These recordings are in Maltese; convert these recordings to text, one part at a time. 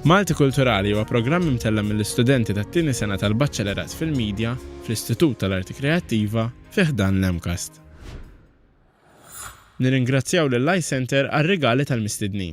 Malti Kulturali huwa programm imtella' mill-istudenti tat-tieni sena tal-Baċċelerat fil-Media fl-Istitut tal-Arti Kreattiva fi ħdan l-MCAST. Nirringrazzjaw lill-iCentre għar-rigali tal-mistednin.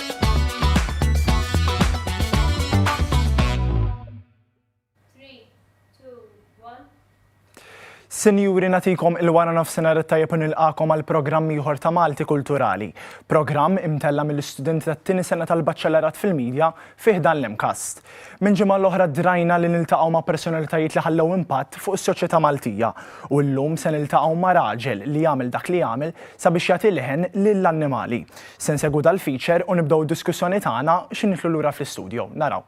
Sinjuri natikom il-wara nofsinhar it-tajjeb nilqakom għal programm ieħor ta' Malti Kulturali. Programm imtella mill-istudenti tat-tieni sena tal-Baċċellerat fil-Media fih dan l-imkast. Minn ġimgħa l-oħra drajna li niltaqgħu ma' personalitajiet li ħallew impatt fuq is-soċjetà Maltija u llum se niltaqgħu ma' raġel li jagħmel dak li jagħmel sabiex jagħti leħen lill-annimali. Se nsegwu dal-feature u nibdew id-diskussjoni tagħna xi nidħlu lura fl-istudio. Naraw.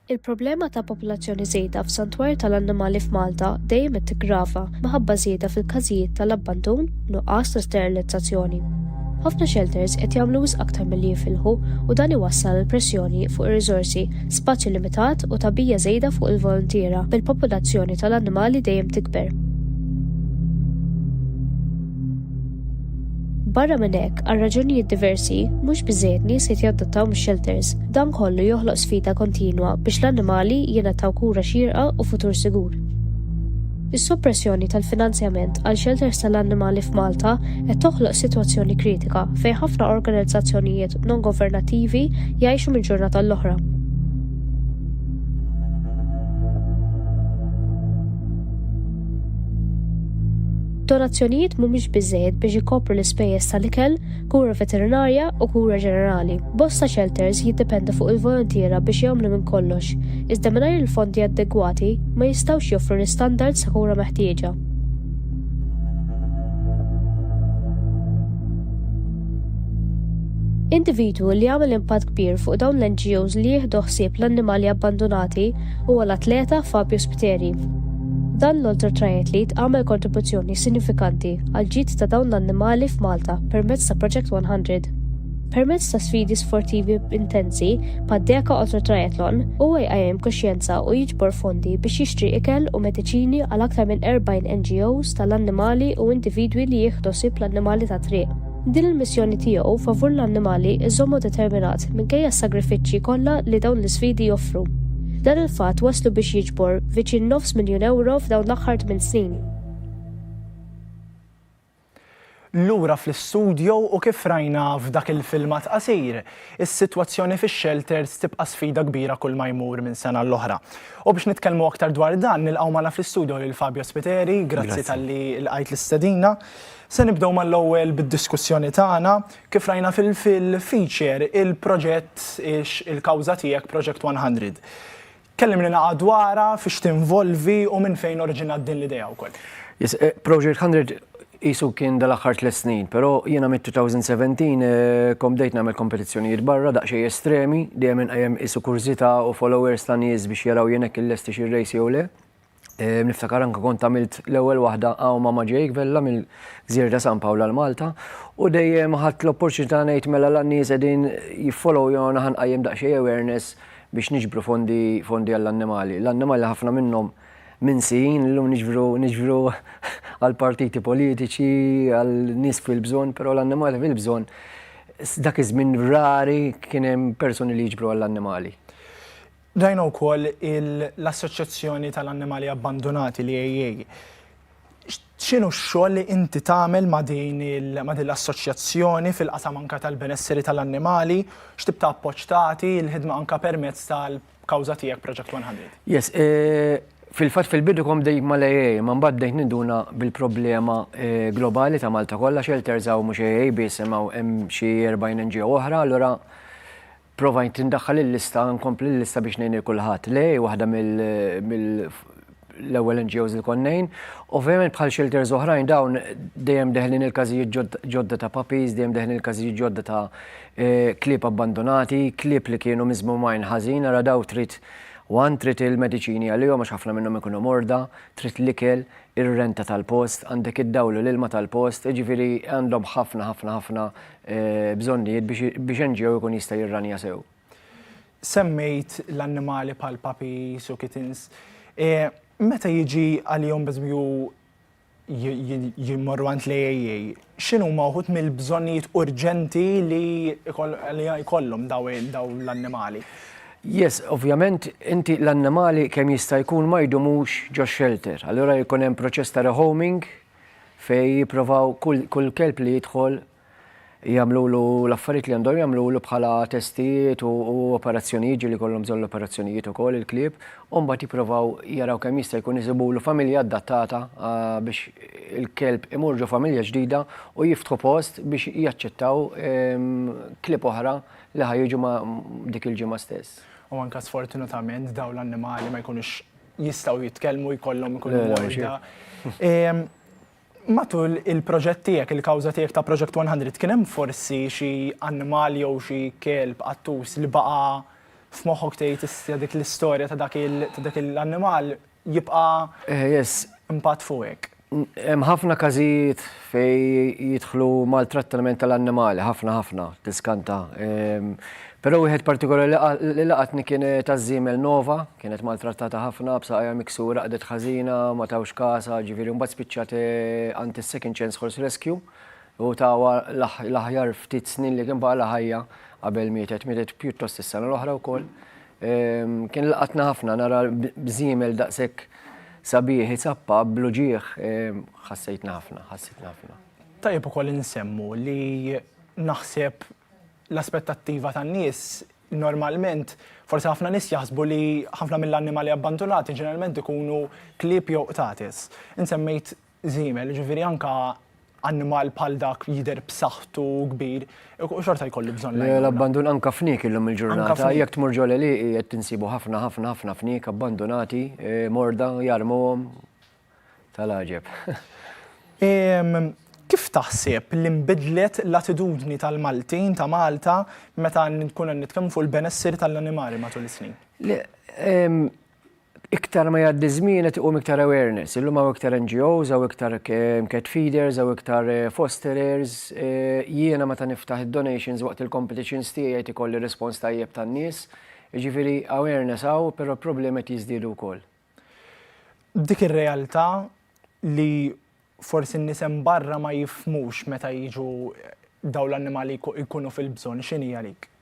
Il-problema ta' popolazzjoni żejda f'santwarji tal-annimali f'Malta dejjem qed tiggrava minħabba żieda fil-każijiet tal-abbandun u nuqqas ta' sterilizzazzjoni. Ħafna xelters qed jagħmlu wisq aktar milli jifilħu u dan iwassal għal pressjoni fuq ir-riżorsi, spazju limitat u tagħbija żejda fuq il-voluntiera bil-popolazzjoni tal-annimali dejjem tikber. Barra minn hekk, għal raġunijiet diversi, mhux biżżejjed nies qed jaddottaw mix-xelters. Dan kollu joħloq sfida kontinwa biex l-annimali jingħataw kura xierqa u futur sigur. Is-soppressjoni tal-finanzjament għal xelters tal-annimali f'Malta qed toħloq sitwazzjoni kritika fejn ħafna organizzazzjonijiet non-governattivi jgħixu minn ġurnata għall-oħra. Donazzjonijiet mhumiex biżżejjed biex ikopru l-ispejjeż tal-ikel, kura veterinarja u kura ġenerali. Bosta xelters jiddependu fuq il-volontiera biex jagħmlu minn kollox, iżda mingħajr il-fondi adegwati ma jistgħux joffru l-istandards ta' kura meħtieġa. Individwu li għamel impatt kbir fuq dawn l-NGOs li jieħdu ħsieb l-annimali abbandunati huwa l-atleta Fabio Spiteri. Dan l-ultra triathlete għamel kontribuzzjoni sinifikanti għall-ġid ta' dawn l-annimali f'Malta permezz ta' Project 100. Permezz ta' sfidi sportivi intensi bħad-Deka Ultra Triathlon, huwa jqajjem kuxjenza u jiġbor fondi biex jixtri ikel u mediċini għal aktar minn 40 NGOs tal-annimali u individwi li jieħdu ħsieb l-annimali tat-triq. Din il-missjoni tiegħu favur l-annimali żżommu determinat minkejja s-sagrifiċċji kollha li dawn l-isfidi joffru. Dan il-fatt wasslu biex jiġbor viċin nofs miljun ewro f'dawn l-aħħar tmien snin. Lura fl-istudjo u kif rajna f'dak il-filmat qasir, is-sitwazzjoni fix-xelters tibqa' sfida kbira kull ma jmur minn sena l-oħra. U biex nitkellmu aktar dwar dan, nilqgħu magħna fl-istudjo lil Fabio Spiteri, grazzi talli lqajt l-istedina. Se nibdew mal-ewwel bid-diskussjoni tagħna. Kif rajna fil-feature, il-proġett Ix il-Kawża Tiegħek, Project 100. Kellimlna dwarha, fiex tinvolvi u minn fejn oriġinat din l-idea wkoll. Yes, Project 100 qisu kien dal-aħħar tliet snin, però jiena mit-2017 kont bdejt nagħmel kompetizzjonijiet barra daqsxejn estremi, dejjem inqajjem qisu kurżità u followers ta' nies biex jaraw jien hekk illestix ir-race jew le. Niftakar anke kont għamilt l-ewwel waħda hawn ma' Ġejk Vella mill-Gżira ta' San Pawl għal Malta u dejjem ħadt l-opportunità ngħid mela la n-nies qegħdin jiffollowyona ħa nqajjem daqsxejn awareness biex niġbru fondi fondi għall-annimali. L-annimali ħafna minnhom minsin, illum niġbru niġbru għall-partiti politiċi, għal nies fil-bżonn, però l-annimali fil-bżonn dak iż-żmien rari kien hemm persuni li jiġbru għall-annimali. Rajna wkoll l-Assoċjazzjoni tal-Annimali Abbandunati, l-AAA. X'inhu x-xogħol li inti tagħmel ma' din l-assoċjazzjoni fil-qasam anke tal-benesseri tal-annimali? X'tip ta' appoġġ tagħti, il-ħidma anke permezz tal-kawża tiegħek Project 100? Yes. Fil-fatt fil-bidu kont bdejt mal-AAA, imma mbagħad bdejt ninduna bil-problema globali ta' Malta kollha, shelters hawn mhux AAA biss imma hemm xi 40 NGO oħra, allura Provajt indaħħal il-lista, nkompli l-lista biex ngħin il-kulħadd. Le, waħda mill-ewwel NGOs li kont ngħin. Ovvjament bħal shelters oħrajn dawn dejjem deħlin il-każijiet ġodda ta' puppies, dejjem deħlin il-każijiet ġodda ta' eh, klieb abbandonati, klieb li kienu miżmumajn ħażin, ara daw trid Wan trid il-mediċini għalihom għax ħafna minnhom ikunu morda, trid l-ikel, ir-renta tal-post, għandek id-dawlu l-ilma tal-post, ġifiri għandhom ħafna ħafna ħafna bżonnijiet biex NGO jkun jista' jirranja sew. Semmejt l-annimali bħal puppies u kittens. Meta jiġi għalihom pereżempju jmorru għand l-AAA, x'inhuma wħud mill-bżonnijiet urġenti li jkollhom dawn l-annimali? Yes, ovvjament inti l-annimali kemm jista' jkun ma jdumux ġo shelter. Allura jkun hemm proċess ta' rehoming fejn jipprovaw kull kelb li jidħol jagħmlulu l-affarijiet li għandhom jagħmlulu bħala testijiet u operazzjonijiet ġieli jkollhom bżonn l-operazzjonijiet ukoll il-klieb u mbagħad jipprovaw jaraw kemm jista' jkun isibulu familja adattata biex il-kelb imur ġo familja ġdida u jiftħu post biex jaċċettaw klieb oħra li ħa jiġu dik il-ġimgħa stess. U anke sfortunatament dawn l-annimali ma jkunux jistgħu jitkellmu jkollhom ikunu morda. Matul il-proġett tiegħek, il-kawża tiegħek ta' Project 100, kien hemm forsi xi annimal jew xi kelb qattus li baqa' f'moħħok tgħid issa dik l-istorja ta' dak l-annimal jibqa' impatt fuqek? Hemm ħafna każijiet fejn jidħlu maltrattament tal-annimali, ħafna ħafna, tiskanta. Però wieħed partikolari li laqatni kien taż-żiemel Nova, kienet maltrattata ħafna, b'saqajha miksura, qagħdet ħażina, ma tawx kasha, ġifieri mbagħad spiċċat għand is-Second Chance Horse Rescue u tawha l-aħjar ftit snin li kien baqgħalha ħajja qabel mietet. Mietet pjuttost is-sena l-oħra wkoll. Kien laqatna ħafna nara bżiemel daqshekk sabiħ isappa bl-uġigħ ħassejtna ħafna, ħassitna ħafna. Tajjeb ukoll insemmu li naħseb l-aspettattiva tan-nies normalment forsi ħafna nies jaħsbu li ħafna mill-annimali abbandunati ġeneralment ikunu klieb jew qtates. Int semmejt żiemel, jiġifieri anke annimal bħal dak jidher b'saħħtu u kbir, xorta jkollu bżonn l-għajnuna. L-abbandun anke fniek illum il-ġurnata, jekk tmur ġol għelieqi qed tinsibu ħafna ħafna ħafna fniek abbandunati, morda, jarmuhom, tal-għaġeb. Kif taħseb li nbidlet l-attitudni tal-Maltin, ta' Malta, meta nkunu qed nitkellmu fuq il-benesseri tal-annimali matul is-snin? iktar ma jgħaddi ż-żmien qed iqum iktar awareness. Illum hawn iktar NGOs, hawn iktar cat feeders, hawn iktar fosterers. Jiena meta niftaħ id-donations waqt il-competitions tiegħi qed ikolli rispons tajjeb tan-nies. Jiġifieri awareness hawn però l-problemi qed jiżdiedu wkoll. B'dik ir-realtà li forsi n-nies hemm barra ma jifhmux meta jiġu dawn l-annimali jkunu fil-bżonn, x'inhi għalik?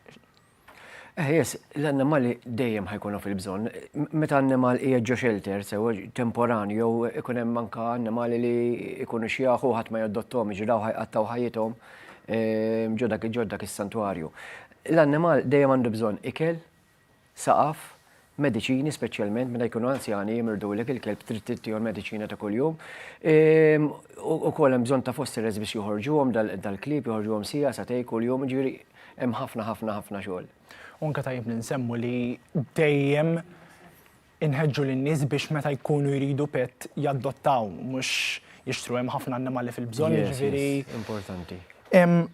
Eħjes, l-annimali dejjem ħajkunu fil-bżonn. Meta annimal qiegħed ġo xelter, sewa temporanju jew ikun hemm anka annimali li jkunu xjaħu ħadd ma jaddottom, jiġri dawn ħajqattgħu ħajjithom ġo dak dak is-santwarju. L-annimal dejjem għandu bżonn ikel, saqaf, mediċini speċjalment meta jkunu anzjani jimirdu lek il-kelb trid tittihom mediċina ta' kuljum. Ehm, u kol hemm bżonn ta' fossi res biex joħorġuhom dal-klib joħorġuhom sija sa tej kuljum ġifieri hemm ħafna ħafna ħafna xogħol. Unka tajjeb li nsemmu li dejjem inħeġġu lin-nies biex meta jkunu jridu pet jaddottaw mhux jixtru hemm ħafna annimali fil-bżonn ġifieri. Importanti. Ehm,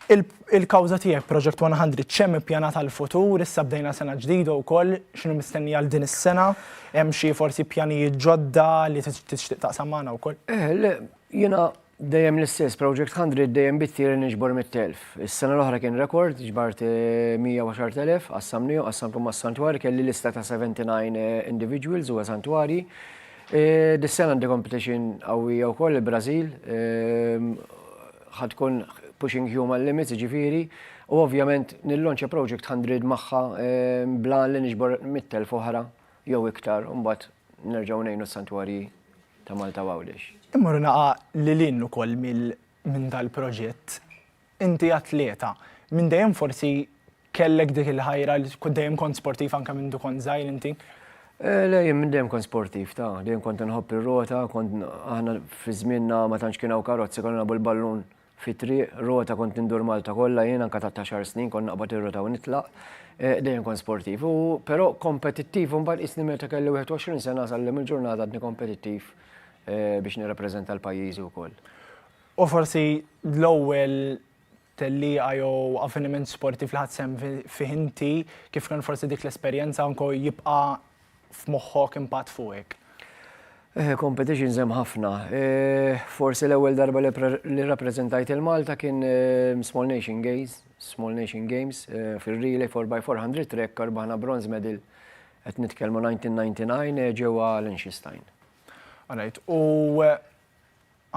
Il-kawża tiegħek Project 100 x'hemm ippjanat għall-futur? Issa bdejna sena ġdida wkoll, x'inhu mistenni għal din is-sena? Hemm xi forsi pjanijiet ġodda li tixtieq taqsam magħna wkoll? Le, jiena dejjem l-istess, Project 100 dejjem bitti li niġbor 100,000. Is-sena l-oħra kien rekord, ġbart 110,000, qassamniehom, qassamthom mas-santwarji, kelli lista ta' 79 individuals u santwarji. Dis-sena għandi competition qawwija wkoll, il-Brażil, ħa tkun pushing human limits, jiġifieri, u ovvjament nillonċja project hundred magħha bl-għan li niġbor mitt elf oħra jew iktar u mbagħad nerġgħu ngħinu s-santwarji ta' Malta u Għawdex. Immur naqa' lil hinn ukoll minn dal-proġett. Inti atleta. Minn dejjem forsi Kellek dik il-ħajra li kont dejjem kont sportiv anke minn kont żgħir inti? Eh, le, jien minn dejjem kont sportiv ta' dejjem kont nħobb ir-rota, kont aħna fi żmienna ma tantx kien hawn karozzi konna nabu l-ballun fit-triq, rota kont nindur Malta kollha jien anke ta' taxar snin kont naqbad ir-rota u nitlaq. Eh, dejjem kont sportiv, u però kompetittiv u mbagħad isni meta kelli 21 sena sallem il-ġurnata għadni kompetittiv eh, biex nirrappreżenta l-pajjiżi wkoll. U forsi l-ewwel tellieqa jew avveniment sportiv li ħadt sehem fih inti, kif kien forsi dik l-esperjenza anke jibqa' f'moħħok impatt fuqek? Competitions hemm ħafna. Forsi l-ewwel darba li rrappreżentajt lil Malta kien Small Nation Games, Small Nation Games fir-relay 4x400 track rbaħna bronze medal qed nitkellmu 1999 ġewwa Liechtenstein. Alright, u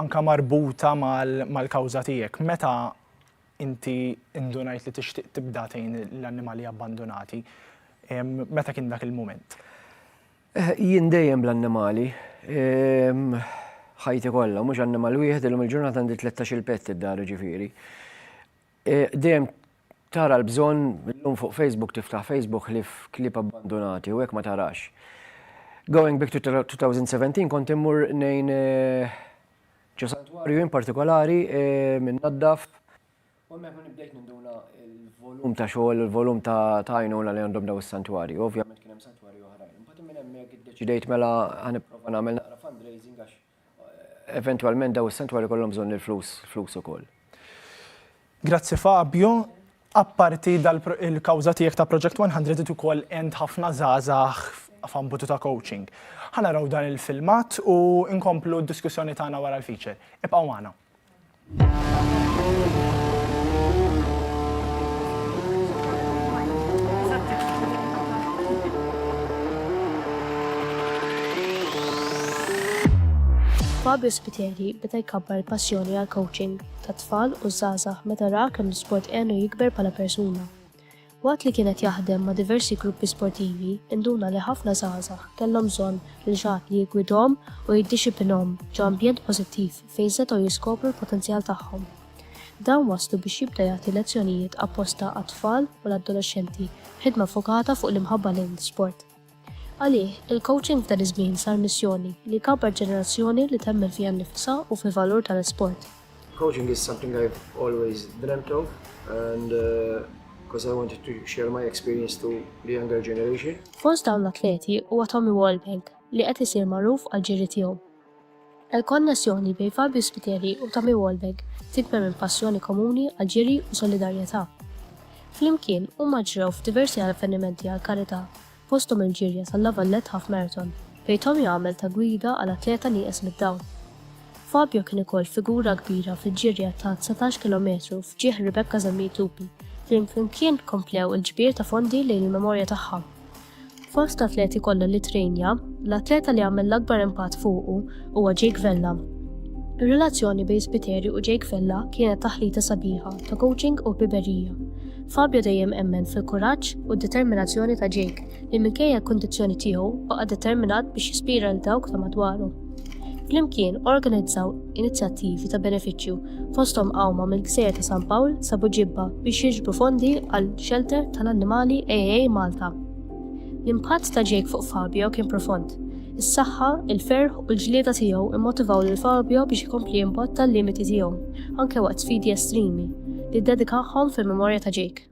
anke marbuta mal-kawża tiegħek, meta inti indunajt li tixtieq tibda tgħin l-annimali abbandunati, meta kien dak il-mument? Jien dejjem bl-annimali, ħajti kollha, mhux annimal wieħed, illum il-ġurnata għandi tlettax-il pett id-dar ġifieri. Dejjem tara l-bżonn, illum fuq Facebook tiftaħ Facebook ħlief klieb abbandunati u hekk ma tarax. Going back to 2017 kont immur ngħin ġo santwarju in partikolari minn naddaf u hemmhekk ma nibdejt ninduna l-volum ta' xogħol, il-volum ta' għajnuna li għandhom daw is-santwarji. Ovvjament kien hemm santwarji oħrajn. Imbagħad minn hemmhekk iddeċidejt mela ħa nipprova nagħmel naqra fundraising għax eventwalment daw is-santwari kollhom bżonn il-flus, flus ukoll. Grazzi Fabio. Apparti il-kawża tiegħek ta' Project 100 id ukoll għend ħafna żgħażagħ f'ambutu ta' coaching. Ħa naraw dan il-filmat u nkomplu d-diskussjoni tagħna wara l-feature. Ibqgħu magħna. Fabio Spiteri beda jkabbar il-passjoni għall-coaching tat-tfal u ż-żgħażagħ meta ra kemm l-isport għenu jikber bħala persuna. Waqt li kien qed jaħdem ma' diversi gruppi sportivi, induna li ħafna żgħażagħ kellhom bżonn lil xi ħadd li jiggwidhom u jiddixipinhom ġo ambjent pożittiv fejn setgħu jiskopru l-potenzjal tagħhom. Dan wasslu biex jibda jagħti lezzjonijiet apposta għat-tfal u l-adolexxenti b'ħidma ffokata fuq l-imħabba lejn l-isport. Għalih, il-kowċing tal-iż-żmien sar missjoni li jkabbar ġenerazzjoni li temmen fiha nnifisha u fil-valur tal-isport. Coaching is something I've always dreamt of and because I wanted to share my experience to the younger generation. Fost dawn l-atleti huwa Tommy Walbank li qed isir magħruf għall-ġiri tiegħu. Il-konnessjoni bejn Fabio Spiteri u Tommy Wahlberg tidber minn passjoni komuni għall-ġiri u solidarjetà. Flimkien, huma ġrew f'diversi avvenimenti għall-karità, fosthom il-ġirja tal-La Vallette Half Marathon, fejn Tommy għamel ta' gwida għal atleta nieqes mid-dawl. Fabio kien ukoll figura kbira fil-ġirja ta' dsatax kilometru f'ġieħ Rebecca Zammit Lupi, fejn flimkien komplew il-ġbir ta' fondi lejn il-memorja tagħha. Fost atleti kollha li ttrejnja, l-atleta li għamel l-akbar impatt fuqu huwa Jake Vella. Ir-relazzjoni bejn Spiteri u Jake Vella kienet taħlita sabiħa ta' coaching u ħbiberija. Fabio dejjem emmen fil-kuraġġ u d-determinazzjoni ta' Jake li minkejja l-kundizzjoni tiegħu baqa' determinat biex jispira lil dawk ta' madwaru. Flimkien organizzaw inizjattivi ta' benefiċċju fosthom qawma mill-Gżejjer ta' San Pawl sa Buġibba biex jiġbru fondi għal xelter tal-annimali AA Malta. L-impatt ta' Jake fuq Fabio kien profond. Is-saħħa, il-ferħ u l-ġlieda tiegħu immotivaw lil Fabio biex ikompli jimbotta l-limiti tiegħu, anke waqt sfidi estremi, li ddedikahom fil-memorja ta' Jake.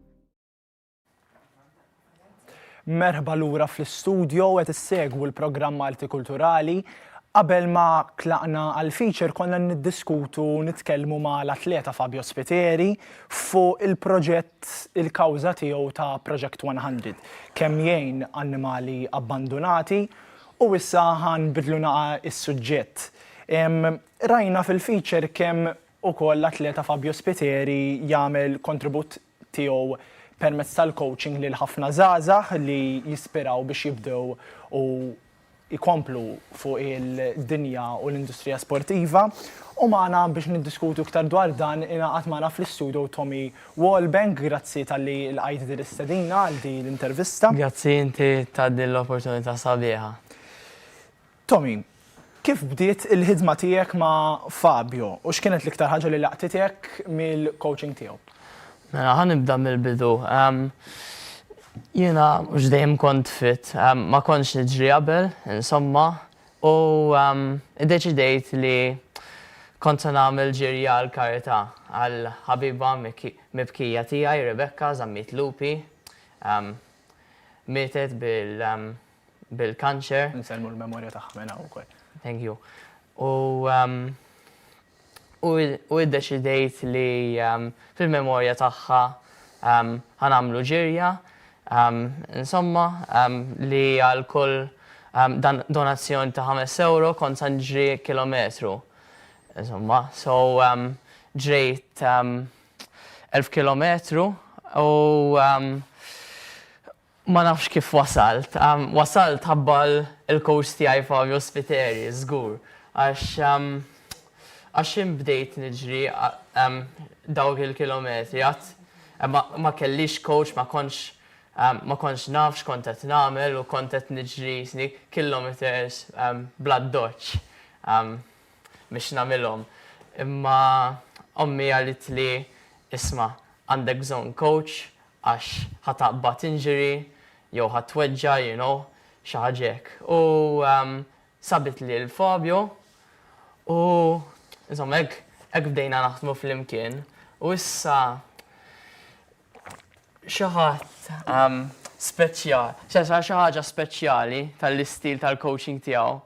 Merħba lura fl-istudjo qed issegwu l-programm Malti Kulturali. Qabel ma tlaqna għal feature konna niddiskutu nitkellmu ma l-atleta Fabio Spiteri fuq il-proġett il-kawża tiegħu ta' Project 100 kemm jgħin annimali abbandunati u issa ħan bidlu naqa is-suġġett. Rajna fil-feature kemm ukoll l-atleta Fabio Spiteri jagħmel kontribut tiegħu permezz tal-coaching lil ħafna żgħażagħ li jispiraw biex jibdew u jkomplu fuq il-dinja u l-industrija sportiva. U magħna biex niddiskutu iktar dwar dan ingħaqad magħna fl-istudio Tommy Wallbank, grazzi talli lqajt din l-istedina għal din l-intervista. Grazzi inti ta' din l-opportunità sabiħa. Tommy, kif bdiet il-ħidma tiegħek ma' Fabio u x'kienet l-iktar ħaġa li laqtitek mill-coaching tiegħu? Mela, ħa nibda mill-bidu. Jiena mhux dejjem kont fit, ma kontx niġri qabel, insomma, u iddeċidejt li kont se nagħmel ġirja għall-karità għal ħabiba mibkija tiegħi, Rebecca, żammit lupi. Mietet bil, bil-kanċer. Insellmu l-memorja tagħha minn hawn ukoll. Thank you. U um, u iddeċidejt li um, fil-memorja tagħha um, ħanamlu ġirja insomma li għal kull donazzjoni ta' 5 euro kont sanġri kilometru. Insomma, so ġrejt 1000 kilometru u Ma nafx kif wasalt. Wasalt ħabba l-coach tiegħi Fabio Spiteri, żgur. Għax għax jien bdejt niġri dawk il-kilometri. Għad ma kellix coach, ma kontx ma kontx naf x'kont qed nagħmel u kont qed niġri kilometres bl-addoċċ biex nagħmilhom. Imma ommi għaltli, isma' għandek bżonn coach għax ħa taqbad injury jew ħa tweġġa' you know xi ħaġa hekk u sabitli lil Fabio u insomma hekk hekk bdejna naħdmu flimkien u issa xi ħadd speċjal xi ħaġa speċjali tal-istil tal-coaching tiegħu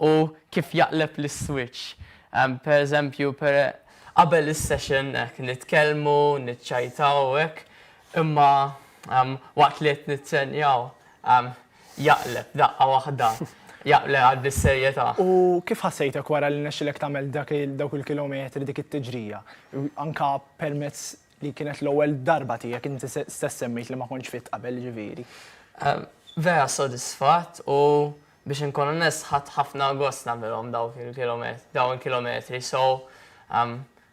u kif jaqleb l-iswiċċ. Per eżempju, qabel is-session hekk nitkellmu, niċċajtaw u hekk, imma waqt li qed nittrennjaw jaqleb daqqa waħda, jaqleb għad bis-serjetà. U kif ħassejtek wara li rnexxielek tagħmel dawk il-kilometri, dik it-tiġrija? Anke permezz li kienet l-ewwel darba tiegħek, inti stess semmejt li ma kontx fit qabel, jiġifieri. Vera sodisfatt u Biex inkun onest ħadt ħafna gost nagħmilhom dawk il-kilometri dawn il-kilometri so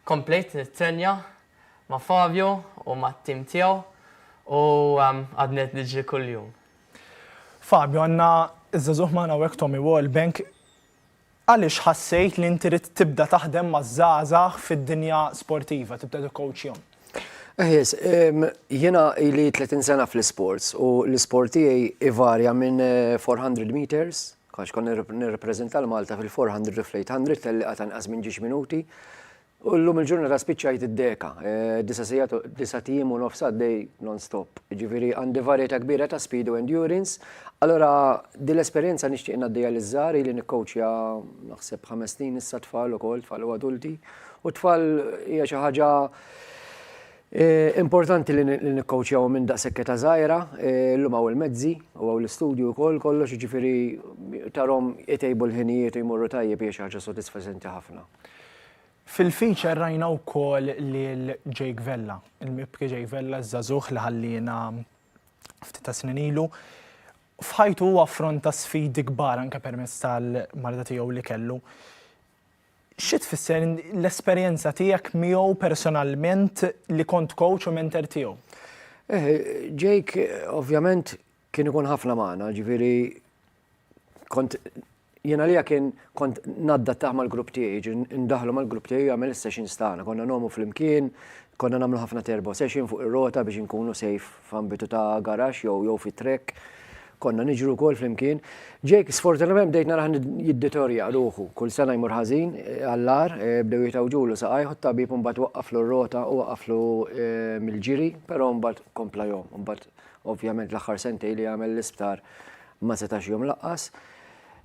komplejt nittrenja ma' Fabio u mat-tim tiegħu u għadni qed niġri kuljum. Fabio, għandna ż-żagħżugħ magħna hawnhekk Tommy Wallbank Għaliex ħassejt li inti ridt tibda taħdem maż-żgħażagħ fid-dinja sportiva, tibda tikkowċjahom? Eh yes, jiena ili 30 sena fl-isports u l-isport tiegħi ivarja minn 400 eh, meters, għax kont nirrepreżenta l-Malta fil-400 u fl-800 telliqa ta' nqas minn ġiex minuti, U llum il-ġurnata spiċċajt id-deka, disa' sigħat, disa' tiem u nofs għaddej non-stop. Jiġifieri għandi varjetà kbira ta' speed u endurance. Allura din l-esperjenza nixtieq ngħaddiha liż-żgħar, ili nikkowċja naħseb ħames snin issa tfal ukoll, tfal u adulti. U t-tfal hija xi ħaġa importanti li nikkowċjahom minn daqshekk età żgħira. Llum hawn il-mezzi u hawn l-istudju wkoll kollox, jiġifieri tarahom itejbu l-ħinijiet u jmorru tajjeb hija xi ħaġa sodisfaċenti ħafna. Fil-feature rajna wkoll lil Jake Vella, il-mibki Jake Vella, ż-żagħżugħ li ħalliena ftit ta' snin ilu. F'ħajtu huwa affronta sfidi kbar anke permezz tal-marda tiegħu li kellu. Xi tfisser l-esperjenza tiegħek miegħu personalment li kont coach u mentor tiegħu? Eh, Jake ovvjament kien ikun ħafna magħna, ġifieri kont Jien għalija kien kont naddattah mal-grupp tiegħi, jiġri ndaħħlu mal-grupp tiegħi u jagħmel is-sessions tagħna. Konna ngħomu flimkien, konna nagħmlu ħafna turbo session fuq ir-rota biex inkunu safe f'ambitu ta' garaxx jew jew fi track. Konna niġru wkoll flimkien. Jake sfortunatament bdejt narah jiddeterjora ruħu, kull sena jmur ħażin għall-agħar, bdew jitgħawġulu saqajh u t-tabib imbagħad waqqaflu r-rota u waqaflu mill-ġiri, però mbagħad kompla jgħum, imbagħad Ovvjament l-aħħar sentej li għamel l-isptar ma setax jom laqqas.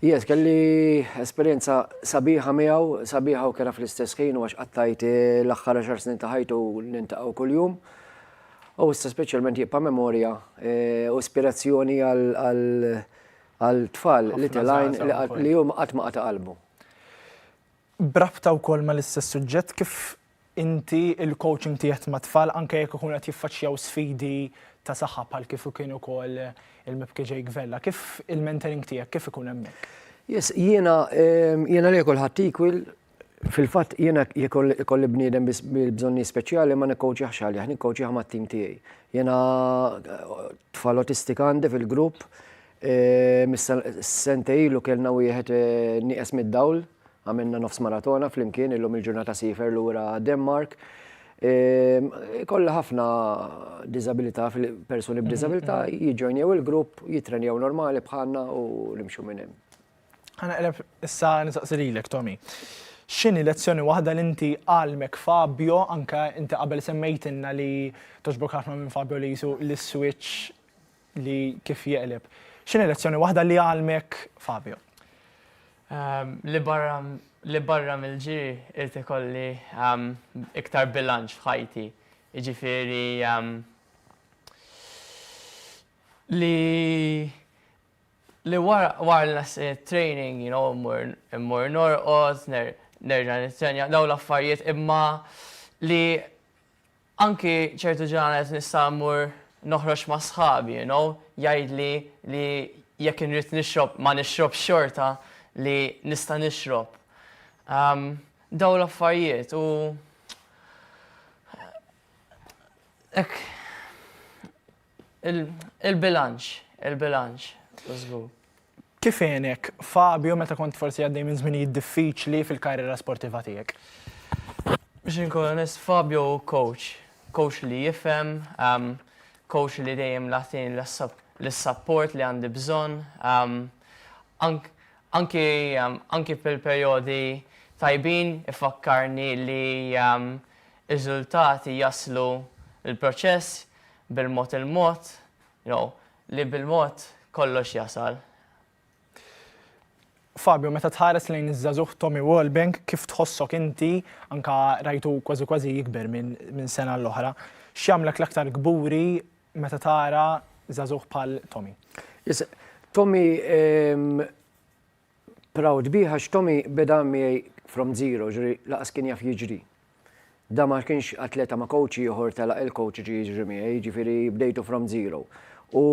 Jes, kelli esperienza sabiħa miegħu, sabiħa u kera fl-istess ħin u għax qattajt eh, l-aħħar 10 snin ta' ħajtu nintaqgħu kuljum. U issa speċjalment jibqa' memorja eh, u ispirazzjoni għal tfal li telajn li huma qatt ma qata' qalbu. Brabta wkoll mal-istess suġġett kif inti il-coaching tiegħek mat-tfal anke jekk ikunu qed jiffaċċjaw sfidi ta' saħħa bħal kif kien ukoll il-Mibki Jake Vella. Kif il-mentoring tiegħek kif ikun hemmhekk? Yes, jiena jiena li kulħadd equal fil-fatt jiena jekk ikolli bniedem bil-bżonni speċjali ma nikkoċjaħx għalih, nikkoċjaħ mat-tim tiegħi. Jiena tfal autistika għandi fil-grupp, sentej ilu kellna wieħed nieqes mid-dawl Għamilna nofs maratona flimkien illum il-ġurnata sifer lura Denmark. Ehm, kolla ħafna disabilità, persuni b'disabilità mhm, mhm. jiġġojnjew il-grupp, jitrenjaw normali bħalna u nimxu minn hemm. Għana qreb issa nisaqsi lilek, Tommy. X'inhi lezzjoni waħda li inti għalmek Fabio, anka inti qabel semmejtinna li toġbok ħafna minn Fabio li jisu l-switch li kif jeqleb. X'inhi lezzjoni waħda li għallmek Fabio? Ehm, li barra li barra mill-ġiri irid ikolli ehm, iktar bilanċ f'ħajti. Jiġifieri ehm, li li wara wara nas eh, training, you know, immur norqod, nerġa' nitrenja daw l-affarijiet imma li Anki ċertu ġranet nista' mmur noħroġ ma' sħabi you know, jgħidli li jekk inrid nixrob ma nixrobx xorta li nista' nixrob. Umm dawn l-affarjiet u hekk. Il-bilanċ, il-bilanċ, żgur. Kif għenek Fabio meta kont forsi għaddej minn żminijiet diffiċli fil-karriera sportiva tiegħek? Biex inkun onest, Fabio hu coach. Coach li jifhem, ehm, coach li dejjem lagħtini l-support li għandi bżonn. Ehm, anki ehm, anki fil-perjodi tajbin ifakkarni li riżultati jaslu l-proċess bil-mod il-mod, jew li bil-mod kollox jasal. Fabio, meta tħares lejn iż-żagħżugħ Tommy Walbank, kif tħossok inti, anke rajtu kważi kważi jikber minn sena għal oħra, x'jagħmlek l-aktar kburi meta tara żagħżugħ bħal Tommy? Tommy, proud bih għax Tommy beda miegħi from zero, jiġifieri lanqas kien jaf jiġri. Dan ma kienx atleta ma' coach ieħor telaq il-coach jiġi jiġri miegħi, jiġifieri bdejtu from zero. U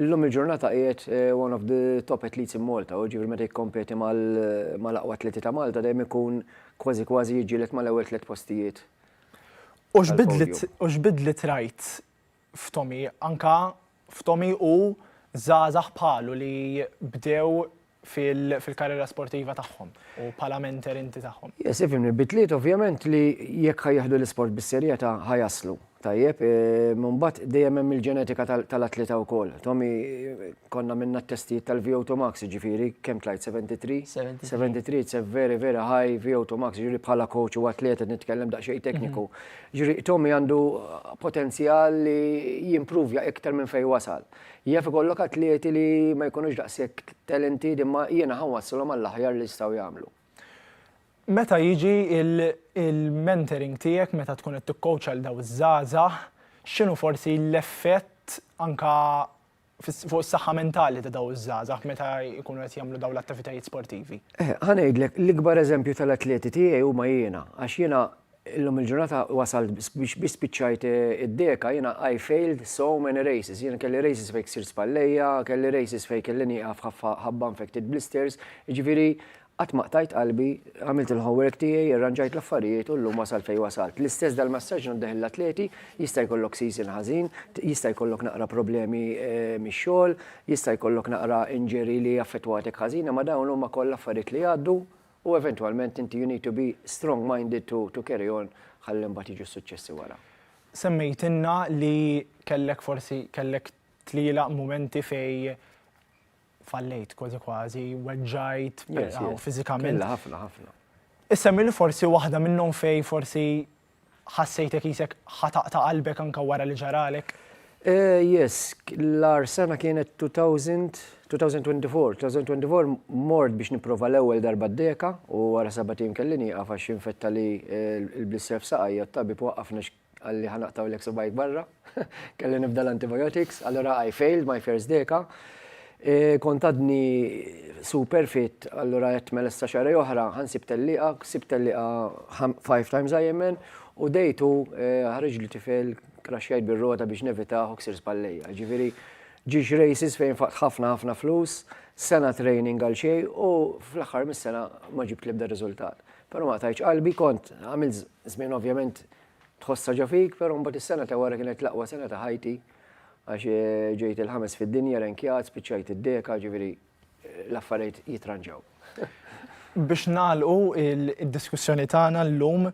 llum il-ġurnata qiegħed one of the top athletes in Malta, jiġifieri meta jikkompeti mal-aqwa atleti ta' Malta dejjem ikun kważi kważi jiġġieled mal-ewwel tliet postijiet. U x'bidliet rajt f'Tommy, anka f'Tommy u żgħażagħ bħalu li bdew fil-karriera sportiva tagħhom u bħala mentor inti tagħhom. Yes, ifhimni, bidliet ovvjament li jekk ħa jieħdu l-isport bis-serjetà ħa jaslu. Tajjeb, mbagħad dejjem hemm il-ġenetika tal-atleta wkoll. Tommy konna minna t-testijiet tal-VO2 max, jiġifieri kemm tlajt 73? 73. 73, it's a very very high VO2 max, jiġifieri bħala coach u atleta nitkellem daqsxejn tekniku. Ġrieq Tommy għandu potenzjal li jimpruvja iktar minn fejn wasal. Jaf ikollok atleti li ma jkunux daqshekk talented imma jiena ħa nwasslhom għall-aħjar li jistgħu jagħmlu. Meta jiġi l-mentoring tiegħek meta tkun qed tikkowċja lil dawn iż-żgħażagħ, x'inhu forsi l-effett anke fuq is-saħħa mentali ta' daw iż-żgħażagħ meta jkunu qed jagħmlu dawn l-attivitajiet sportivi? Eh, ħa ngħidlek, l-ikbar eżempju tal-atleti tiegħi huma jiena, għax jiena illum il-ġurnata wasalt biex biex spiċċajt eh, id-deka jiena I failed so many races. Jiena kelli races fejk sir spallejja, kelli races fejk kelli nieqaf ħabba infected blisters, ġifieri Qatt ma qtajt qalbi, għamilt il-homework tiegħi, irranġajt l-affarijiet u llum wasalt fejn wasalt. L-istess dal-massaġġ ngħaddih lill-atleti, jista' jkollok season ħażin, jista' jkollok naqra problemi mix-xogħol, jista' jkollok naqra injury li affettwatek ħażin imma dawn huma kollha affarijiet li jgħaddu u eventwalment inti you need to be strong minded to to carry on ħalli mbagħad jiġu s-suċċessi wara. Semmejtilna li kellek forsi kellek tlielaq mumenti fejn fallejt kważi kważi, weġġajt, fiżikament. Illa ħafna ħafna. Issemmi li forsi waħda minnhom fej forsi ħassejtek isek ħataqta qalbek anka wara li ġaralek. Eh, yes, l-ar sena kienet 2000, 2024. 2024 mort biex niprofa l-ewwel darba d-deka u wara sabatin kellini għafa xinfetta li eh, l-blissef saqajja t-tabib waqqafna Qalli ħa naqtgħulek subgħajk barra. Kelli nibda l-antibiotics, allura I failed my first deka. Kont għadni super fit, allura għedt mela issa xahrej oħra ħa nsib tellieqa, sibt tellieqa five times IMN u day two ħareġli tifel kraxxjajt bir-rota biex nevitah u ksirt spallejja. Ġifieri ġiex races fejn faqt ħafna ħafna flus, sena training għal xejn u fl-aħħar mis-sena ma ġibt l-ebda riżultat. Però ma qtajtx qalbi, kont għamil żmien ovvjament tħossha ġo fik, però mbagħad is-sena ta' wara kienet l-aqwa sena ta' ħajti għax eh, ġejt il-ħames fid-dinja renkjat, spiċċajt id-deka, ġifieri eh, l-affarijiet jitranġaw. Biex nagħlqu id-diskussjoni tagħna llum,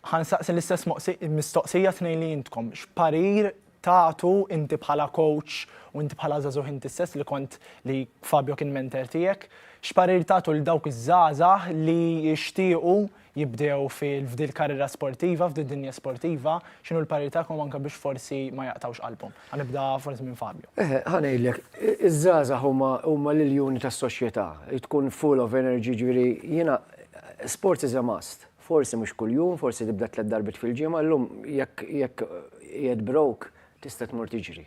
ħansaqsi l-istess mistoqsija tnejn li intkom. X'parir tagħtu inti bħala coach u inti bħala żagħżugħ inti stess li kont li Fabio kien mentor tiegħek, x'parir tagħtu lil dawk iż-żgħażagħ li jixtiequ jibdew f'din il-karriera sportiva, f'din id-dinja sportiva, x'inhu l-parir tagħkom anke biex forsi ma jaqtgħux qalbhom? Ħa nibda forsi minn Fabio. Eħe, ħa ngħidlek, iż-żgħażagħ huma huma l-iljuni tas-soċjetà, tkun full of energy, ġifieri jiena sports is a must. Forsi mhux kuljum, forsi tibda tliet darbiet fil-ġimgħa, llum jekk jekk qiegħed broke tista' tmur tiġri.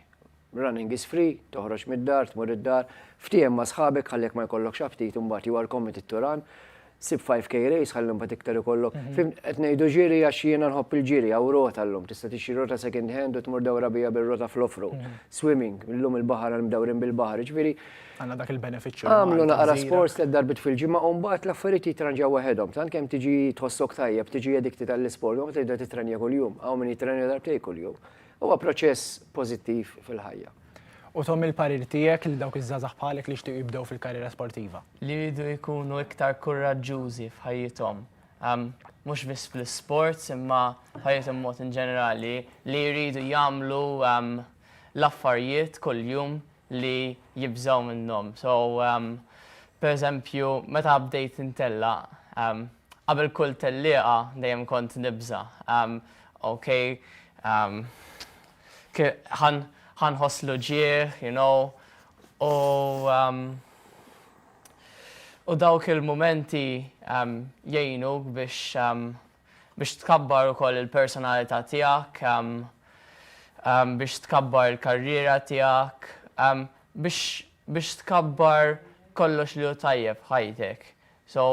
Running is free, toħroġ mid-dar, tmur id-dar, ftiehem ma' sħabek ħalli jekk ma jkollokx aptit imbagħad you are committed to run, sib 5K race ħalli mbagħad iktar ikollok. Fhimt? Qed ngħidu ġiri għax jiena nħobb il-ġiri, hawn rota llum, tista' tixtri rota second hand u tmur dawra biha bir-rota fl-off-road. Swimming, illum il-baħar għal mdawrin bil-baħar, jiġifieri, Għandna dak il-benefiċċju. Għamlu naqra sports tliet darbiet fil-ġimgħa u mbagħad l-affarijiet jitranġaw waħedhom. Tant kemm tiġi tħossok tajjeb, tiġi edikti tal-isport, u tibda titrenja kuljum. Hawn min jitrenja darbtej kuljum. Huwa proċess pożittiv fil-ħajja. U Tom il-parir tiegħek lil dawk iż-żgħażagħ bħalek li jixtiequ jibdew fil-karriera sportiva? Li jridu jkunu iktar kuraġġużi f'ħajjithom. Mhux biss fl-isports imma ħajjithom b'mod inġenerali. Li jridu jagħmlu l-affarijiet kuljum li jibżgħu minnhom. So per eżempju meta bdejt intellaq, qabel kull tellieqa dejjem kont nibża', ok ħa nħoss l-uġigħ, you know, u u dawk il-mumenti jgħinuk biex Biex tkabbar ukoll il-personalità tiegħek, biex tkabbar il-karriera tiegħek, biex biex tkabbar kollox li hu tajjeb f'ħajtek. So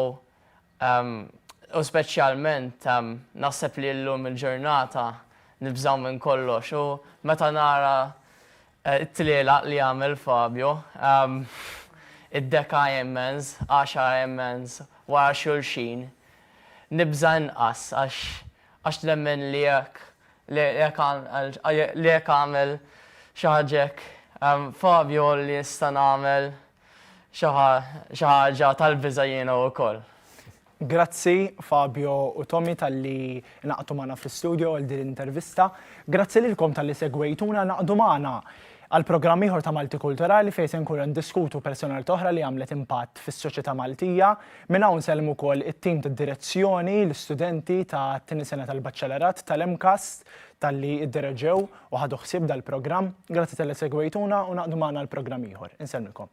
u speċjalment naħseb li llum il-ġurnata nibżgħu minn kollox u meta nara It-tlielaq li għamel Fabio, id-deka Ironmans, għaxar Ironmans wara xulxin, nibża' inqas għax nemmen li jekk li jekk għamel xi ħaġa hekk Fabio li nista' nagħmel xi xi ħaġa tal-biża' jiena wkoll. Grazzi Fabio u Tommy talli ingħaqdu magħna fl-istudio għal din l-intervista. Grazzi lilkom talli segwejtuna ngħaqdu magħna għal programm ieħor ta' Malti Kulturali fejn se nkunu ndiskutu personalità oħra li għamlet impatt fis-soċjetà Maltija. Minn hawn nsellmu wkoll it-tim tad-direzzjoni, l-istudenti ta' tieni sena tal-Baċċellerat tal-MCAST talli ddereġew u ħadu ħsieb dal-programm. Grazzi talli segwejtuna u ngħaqdu magħna għal programm ieħor. Insellmilkom.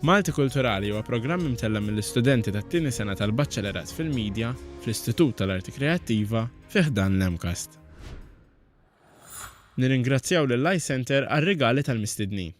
Malti Kulturali huwa programm imtella' mill-istudenti tat-tieni sena tal-Baċċelerat fil-Media fl-Istitut tal-Arti Kreattiva fi ħdan l-MCAST. Nirringrazzjaw lill-iCentre għar-rigali tal-mistednin.